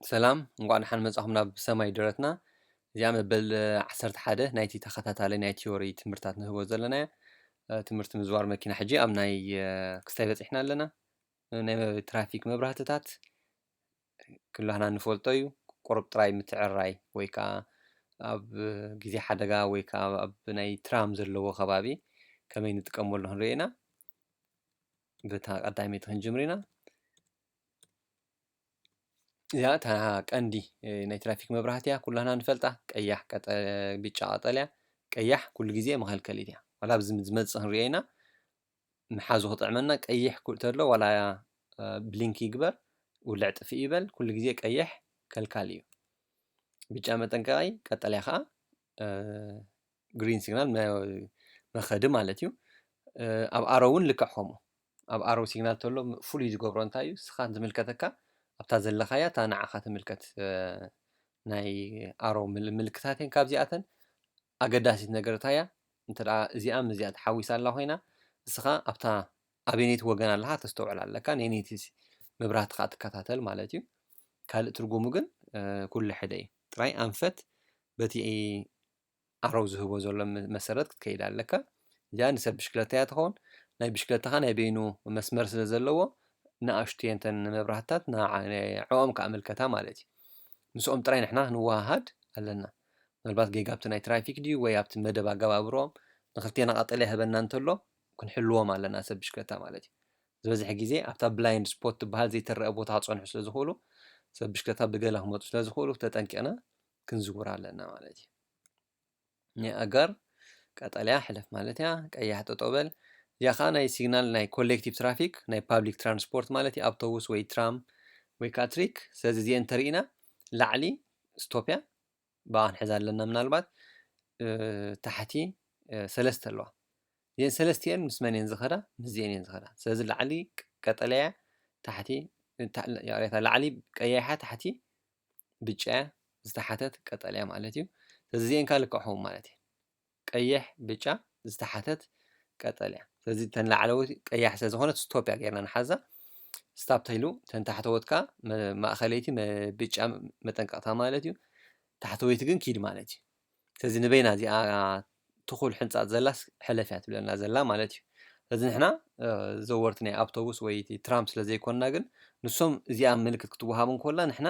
ሰላም እንቋዕ ደሓን መጻኹም ናብ ሰማይ ደረትና እዚኣ መበል ዓሰርተ ሓደ ናይቲ ተኸታታሊ ናይ ቲዮሪ ትምህርታት ንህቦ ዘለና እያ ትምህርቲ ምዝዋር መኪና ሕጂ ኣብ ናይ ክስታይ በፂሕና ኣለና ናይ ትራፊክ መብራህትታት ክላህና ንፈልጦ እዩ ቁርብ ጥራይ ምትዕርራይ ወይ ከዓ ኣብ ግዜ ሓደጋ ወይ ከዓ ኣብ ናይ ትራም ዘለዎ ከባቢ ከመይ ንጥቀመሉ ክንርኢ ኢና በታ ቀዳመይቲ ክንጅምር ኢና እዚኣ እታ ቀንዲ ናይ ትራፊክ መብራህቲ እያ ኩላና ንፈልጣ ቀያሕ ብጫ ቀጠልያ ቀያሕ ኩሉ ግዜ መኸልከሊት እያ ዋላ ኣብዚ ዝመጽእ ክንሪኦ ኢና ምሓዙ ክጥዕመና ቀይሕ ተሎ ዋላ ብሊንኪ ይግበር ውልዕ ጥፍእ ይበል ኩሉ ግዜ ቀይሕ ከልካሊ እዩ ብጫ መጠንቀቒ ቀጠልያ ኸኣ ግሪን ሲግናል መኸዲ ማለት እዩ ኣብ ኣሮ እውን ልክዕ ከምኡ ኣብ ኣሮ ሲግናል ተሎ ፍሉይ ዝገብሮ እንታይ እዩ ስኻ ዝምልከተካ ኣብታ ዘለኻያ እታ ንዓኻ ትምልከት ናይ ኣሮ ምልክታት እየን ካብዚኣተን ኣገዳሲት ነገር እንታይ እያ እንተ እዚኣ ምስዚኣ ተሓዊሳ ኣላ ኮይና እስኻ ኣብታ ኣበነይቲ ወገን ኣለካ ተስተውዕል ኣለካ ነይቲ መብራህቲ ከዓ ትከታተል ማለት እዩ ካልእ ትርጉሙ ግን ኩሉ ሕደ እዩ ጥራይ ኣንፈት በቲ ኣረው ዝህቦ ዘሎ መሰረት ክትከይድ ኣለካ እዚኣ ንሰብ ብሽክለታ እያ ትኸውን ናይ ብሽክለታኻ ናይ በይኑ መስመር ስለ ዘለዎ ንኣሽቱ እየን እተን መብራህትታት ንዕኦም ክኣመልከታ ማለት እዩ ምስኦም ጥራይ ንሕና ክንወሃሃድ ኣለና ምናልባት ጌጋ ኣብቲ ናይ ትራፊክ ድዩ ወይ ኣብቲ መደብ ኣገባብሮም ንክልቴና ቀጠልያ ይህበና እንተሎ ክንሕልዎም ኣለና ሰብ ብሽክለታ ማለት እዩ ዝበዝሐ ግዜ ኣብታ ብላይንድ ስፖት ትበሃል ዘይትረአ ቦታ ክፀንሑ ስለ ዝኽእሉ ሰብ ብሽክለታ ብገለ ክመፁ ስለ ዝኽእሉ ተጠንቂቕና ክንዝውር ኣለና ማለት እዩ። ናይ ኣጋር ቀጠልያ ሕለፍ ማለት እያ፣ ቀያሕ ጠጠው በል። እዚኣ ከዓ ናይ ሲግናል ናይ ኮሌክቲቭ ትራፊክ ናይ ፓብሊክ ትራንስፖርት ማለት እዩ፣ ኣብቶቡስ ወይ ትራም ወይ ከዓ ትሪክ። ስለዚ እዚኤን እንተሪኢና ላዕሊ ስቶፕ እያ፣ ብኣ ክንሕዛ ኣለና ምናልባት ታሕቲ ሰለስተ ኣለዋ። እዚኤን ሰለስቲኤን ምስ መን እየን ዝኸዳ? ምስዚኤን እየን ዝኸዳ። ስለዚ ላዕሊ ቀጠልያ እያ፣ ታሕቲ ይቕሬታ፣ ላዕሊ ቀያሕ እያ፣ ታሕቲ ብጫ እያ ዝተሓተት ቀጠልያ ማለት እዩ ስለዚ እዚኤን ከኣ ልክዕ ክኸውን ማለት እየን ቀይሕ ብጫ ዝተሓተት ቀጠልያ ስለዚ እተን ላዕለዎት ቀያሕ ስለ ዝኾነት ስቶፕ እያ ጌርና ንሓዛ ስታፕ ተይሉ እተን ታሕተዎት ከኣ መ- ማእኸለይቲ መ- ብጫ መጠንቀቕታ ማለት እዩ ታሕተወይቲ ግን ኪድ ማለት እዩ ስለዚ ንበይና እዚኣ ትኹል ሕንጻጽ ዘላስ ሕለፍ እያ ትብለና ዘላ ማለት እዩ። ስለዚ ንሕና ዘወርቲ ናይ ኣብቶቡስ ወይ እቲ ትራም ስለ ዘይኮንና ግን ንሶም እዚኣ ምልክት ክትወሃብ እንኮላ ንሕና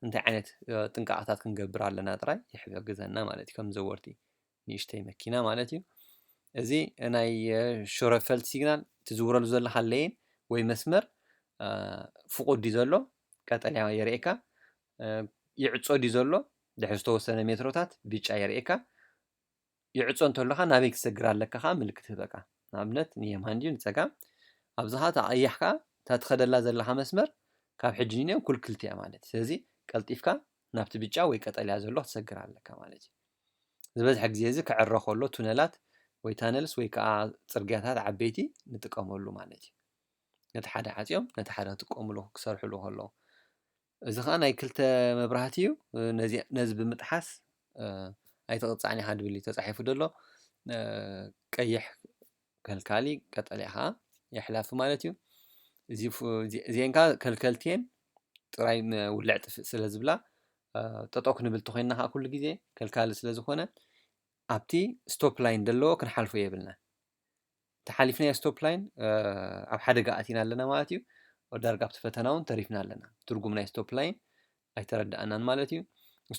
እንታይ ዓይነት ጥንቃቐታት ክንገብር ኣለና ጥራይ ይሕግዘና ማለት እዩ ከም ዘወርቲ ንእሽተይ መኪና ማለት እዩ። እዚ ናይ ሾረፈልት ሲግናል ትዝውረሉ ዘለካ ለይን ወይ መስመር ፍቑድ እዩ ዘሎ ቀጠልያ የርእየካ ይዕጾ ድዩ ዘሎ ድሕሪ ዝተወሰነ ሜትሮታት ብጫ የርእየካ። ይዕጾ እንተሎ ከኣ ናበይ ክትሰግር ኣለካ ከኣ ምልክት ይህበካ። ንኣብነት ንየማን ድዩ ንጸጋም ኣብዚ ከኣ እታ ቀያሕ ከኣ እታ ትኸደላ ዘለኻ መስመር ካብ ሕጂ ንንየው ኩልክልቲ እያ ማለት እዩ። ስለዚ ቀልጢፍካ ናብቲ ብጫ ወይ ቀጠልያ ዘሎ ክትሰግር ኣለካ ማለት እዩ። ዝበዝሐ ግዜ እዚ ክዕረ ከሎ ቱነላት ወይ ታነልስ ወይ ከኣ ጽርግያታት ዓበይቲ ንጥቀመሉ ማለት እዩ። ነቲ ሓደ ዓጽዮም ነቲ ሓደ ክጥቀምሉ ክሰርሕሉ ከለዉ እዚ ከኣ ናይ ክልተ መብራህቲ እዩ ነዚ ነዚ ብምጥሓስ ኣይትቕጻዕን ኢኻ ድብል እዩ ተጻሒፉ ደሎ ቀይሕ ከልካሊ ቀጠልያ ከኣ የሕላፊ ማለት እዩ እዚ እዚኤን ከኣ ከልከልቲ እየን ጥራይ ውልዕ ጥፍእ ስለ ዝብላ ጠጠው ክንብል ተኾይንና ከኣ ኩሉ ግዜ ከልካሊ ስለ ዝኾነ ኣብቲ ስቶፕ ላይን ደለዎ ክንሓልፎ የብልናን። ተሓሊፍናዮ ስቶፕ ላይን ኣብ ሓደጋ ኣቲና ኣለና ማለት እዩ ዳርጋ ኣብቲ ፈተና እውን ተሪፍና ኣለና ትርጉም ናይ ስቶፕ ላይን ኣይተረዳእናን ማለት እዩ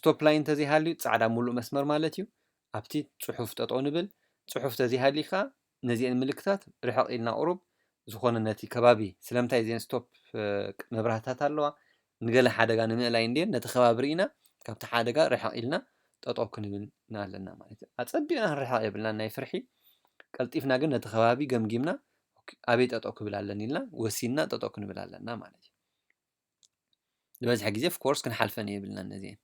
ስቶፕ ላይን ተዘይሃልዩ ፃዕዳ ሙሉእ መስመር ማለት እዩ ኣብቲ ፅሑፍ ጠጠው ንብል ፅሑፍ ተዘይሃልዩ ከዓ ነዚአን ምልክታት ርሕቕ ኢልና ቁሩብ ዝኾነ ነቲ ከባቢ ስለምንታይ እዚአን ስቶፕ መብራህትታት ኣለዋ ንገለ ሓደጋ ንምእላይ እንድየን ነቲ ከባቢ ርኢና ካብቲ ሓደጋ ርሕቕ ኢልና ጠጠው ክንብል ኣለና ማለት እዩ። ኣጸቢቕና ክንርሕቕ የብልናን ናይ ፍርሒ፣ ቀልጢፍና ግን ነቲ ከባቢ ገምጊምና ኣበይ ጠጠው ክብል ኣለኒ ኢልና ወሲንና ጠጠው ክንብል ኣለና ማለት እዩ። ዝበዝሐ ግዜ ኦፍኮርስ ክንሓልፈን የብልናን ነዚኤን።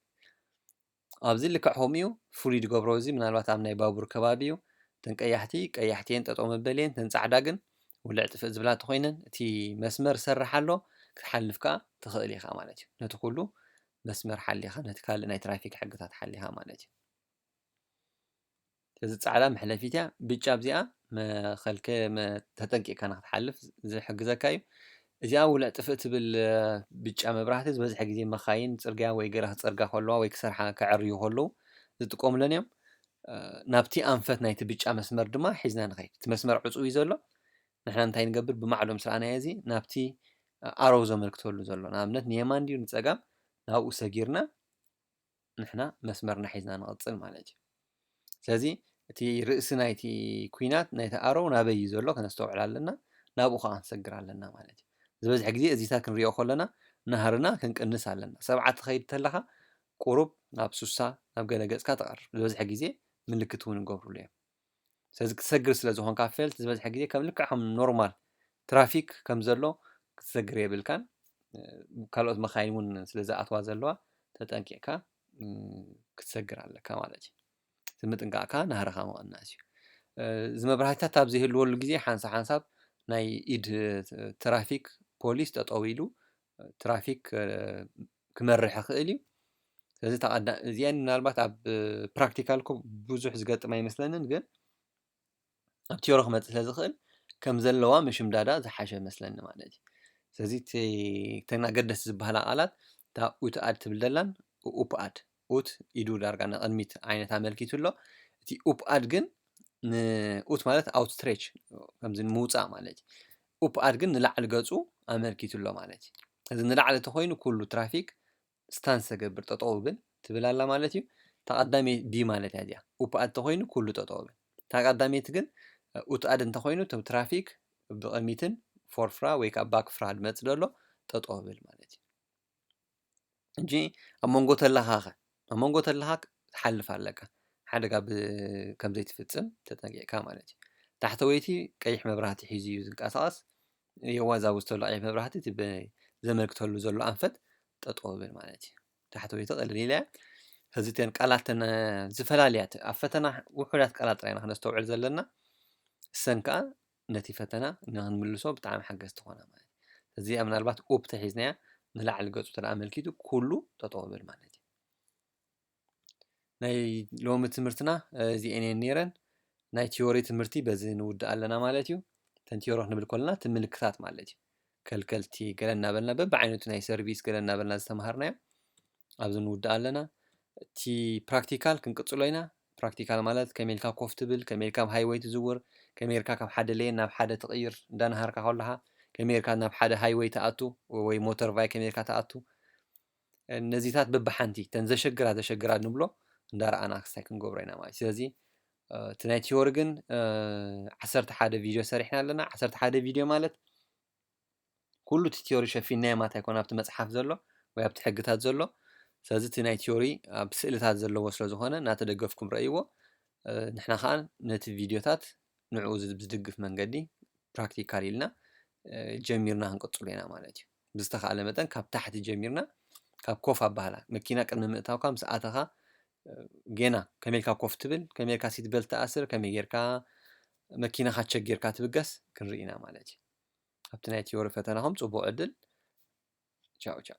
ኣብዚ ልክዕ ከምኡዩ ፍሉይ ድገብሮ እዚ ምናልባት ኣብ ናይ ባቡር ከባቢ እዩ እተን ቀያሕቲ ቀያሕቲ እየን ጠጠው መበሊ እየን እተን ጻዕዳ ግን ውልዕ ጥፍእ ዝብላ ተኾይነን እቲ መስመር ዝሰርሕ ኣሎ ክትሓልፍ ከዓ ትኽእል ኢኻ ማለት እዩ ነቲ ኩሉ መስመር ሓሊኻ ነቲ ካልእ ናይ ትራፊክ ሕግታት ሓሊኻ ማለት እዩ እዚ ጻዕዳ መሕለፊት እያ ብጫ ኣብዚኣ መኸልከ ተጠንቂቕካ ንክትሓልፍ ዝሕግዘካ እዩ እዚኣ ውልዕ ጥፍእ ትብል ብጫ መብራህቲ ዝበዝሐ ግዜ መኻይን ጽርግያ ወይ ገራ ክጸርጋ ከለዋ ወይ ክሰርሓ ከዐርዩ ከለዉ ዝጥቀሙለን እዮም ናብቲ ኣንፈት ናይቲ ብጫ መስመር ድማ ሒዝና ንኸይድ እቲ መስመር ዕፁው እዩ ዘሎ ንሕና እንታይ ንገብር ብማዕዶ ምስ ረኣናዮ እዚ ናብቲ ኣረው ዘመልክተሉ ዘሎ ንኣብነት ንየማን ድዩ ንፀጋም ናብኡ ሰጊርና ንሕና መስመርና ሒዝና ንቕጽል ማለት እዩ። ስለዚ እቲ ርእሲ ናይቲ ኩናት ናይቲ ኣሮው ናበይ እዩ ዘሎ ከነስተውዕል ኣለና፣ ናብኡ ከኣ ክንሰግር ኣለና ማለት እዩ። ዝበዝሐ ግዜ እዚታት ክንሪኦ ከሎና ናህርና ክንቅንስ ኣለና። ሰብዓ ትኸይድ ተለኻ ቁሩብ ናብ ሱሳ ናብ ገለ ገጽካ ተቐርብ። ዝበዝሐ ግዜ ምልክት እውን ይገብሩሉ እዮም። ስለዚ ክትሰግር ስለ ዝኾንካ ፌል ዝበዝሐ ግዜ ከም ልክዕ ከም ኖርማል ትራፊክ ከም ዘሎ ክትሰግር የብልካን ካልኦት መካይን እውን ስለ ዝኣትዋ ዘለዋ ተጠንቂቕካ ክትሰግር ኣለካ ማለት እዩ ምጥንቃቕ ከዓ ናህርኻ ምቕናስ እዩ እዚ መብራህትታት ኣብ ዘይህልወሉ ግዜ ሓንሳ ሓንሳብ ናይ ኢድ ትራፊክ ፖሊስ ጠጠው ኢሉ ትራፊክ ክመርሕ ይኽእል እዩ። ስለዚ እታ ቀዳ እዚኤን ምናልባት ኣብ ፕራክቲካል እኮ ብዙሕ ዝገጥም ኣይመስለንን ግን ኣብ ቲዮሪ ክመፅእ ስለ ዝኽእል ከም ዘለዋ ምሽምዳዳ ዝሓሸ መስለኒ ማለት እዩ። ስለዚ እቲ እተን ኣገደስቲ ዝበሃላ ቃላት እታ ኡትኣድ ትብል ዘላን ኡፕኣድ ኡት ኢዱ ዳርጋ ንቕድሚት ዓይነት ኣመልኪቱ ኣሎ። እቲ ኡፕኣድ ግን ንኡት ማለት ኣውትስትሬች ከምዚ ንምውፃእ ማለት እዩ። ኡፕኣድ ግን ንላዕሊ ገፁ ኣመልኪቱ ኣሎ ማለት እዩ። እዚ ንላዕሊ ተኮይኑ ኩሉ ትራፊክ ስታንስ ተገብር ጠጠው ብል ትብል ኣላ ማለት እዩ። ተቐዳመይ ቢ ማለት እያ እዚኣ ኡፕኣድ ተኮይኑ ኩሉ ጠጠው ብል። ተቐዳመይቲ ግን ኡትኣድ እንተኮይኑ እቶም ትራፊክ ብቕድሚትን ፎርፍራ ወይ ከዓ ባክፍራ ድመፅ ደሎ ጠጠው ብል ማለት እዩ። ሕጂ ኣብ መንጎ ተለኻ ከ? ኣብ መንጎ ተለኻ ክትሓልፍ ኣለካ፣ ሓደጋ ከም ዘይትፍጽም ተጠንቂቕካ ማለት እዩ። ታሕተወይቲ ቀይሕ መብራህቲ ሒዙ እዩ ዝንቀሳቐስ፣ የዋ እዛ ኣብዚ ዘሎ ቀይሕ መብራህቲ እቲ ዘመልክተሉ ዘሎ ኣንፈት ጠጠው በል ማለት እዩ። ታሕተወይቲ ቅልል ኢላ እያ። ሕዚ እተን ቃላት እተን ዝፈላልያ፣ ኣብ ፈተና ውሑዳት ቃላት ጥራይ ኢና ክነስተውዕል ዘለና። እሰን ከኣ ነቲ ፈተና ንክንምልሶ ብጣዕሚ ሓገዝቲ ኮና ማለት እዩ። እዚኣ ምናልባት ኡፕ ተሒዝናያ ንላዕሊ ገጹ እንተ ኣመልኪቱ ኩሉ ጠጠው ይብል ማለት እዩ። ናይ ሎሚ ትምህርትና እዚኤን እየን ነይረን። ናይ ቲዮሪ ትምህርቲ በዚ ንውድእ ኣለና ማለት እዩ። ተን ቲዮሪ ክንብል ከለና እቲ ምልክታት ማለት እዩ። ከልከልቲ ገለ እናበልና በብዓይነቱ ናይ ሰርቪስ ገለ እናበልና ዝተምሃርናዮ ኣብዚ ንውድእ ኣለና እቲ ፕራክቲካል ክንቅፅሎ ኢና ፕራክቲካል ማለት ከመይ ኢልካ ኮፍ ትብል ከመይ ኢልካ ኣብ ሃይወይ ትዝውር ከመይ ኢልካ ካብ ሓደ ለየን ናብ ሓደ ትቕይር እንዳነሃርካ ከለኻ ከመይ ኢልካ ናብ ሓደ ሃይወይ ትኣቱ ወይ ሞተር ቫይ ከመይ ኢልካ ትኣቱ ነዚታት በብሓንቲ ተን ዘሸግራ ዘሸግራ ንብሎ እንዳረኣና ክስታይ ክንገብሮ ኢና ማለት ስለዚ እቲ ናይ ቲዮሪ ግን ዓሰርተ ሓደ ቪድዮ ሰሪሕና ኣለና ዓሰርተ ሓደ ቪድዮ ማለት ኩሉ እቲ ቲዮሪ ሸፊናዮ ማለት ኣይኮነ ኣብቲ መፅሓፍ ዘሎ ወይ ኣብቲ ሕግታት ዘሎ ስለዚ እቲ ናይ ቲዮሪ ኣብ ስእልታት ዘለዎ ስለ ዝኾነ እናተደገፍኩም ረእይዎ ንሕና ከዓ ነቲ ቪድዮታት ንዕኡ ዝድግፍ መንገዲ ፕራክቲካል ኢልና ጀሚርና ክንቅፅሉ ኢና ማለት እዩ ብዝተኻእለ መጠን ካብ ታሕቲ ጀሚርና ካብ ኮፍ ኣባህላ መኪና ቅድሚ ምእታውካ ምስ ኣተኻ ጌና ከመይ ኢልካ ኮፍ ትብል ከመይ ኢልካ ሲት በልት ትኣስር ከመይ ጌርካ መኪናኻ ቸክ ጌርካ ትብገስ ክንርኢ ኢና ማለት እዩ ኣብቲ ናይ ቲዮሪ ፈተናኹም ፅቡቕ ዕድል ቻው ቻው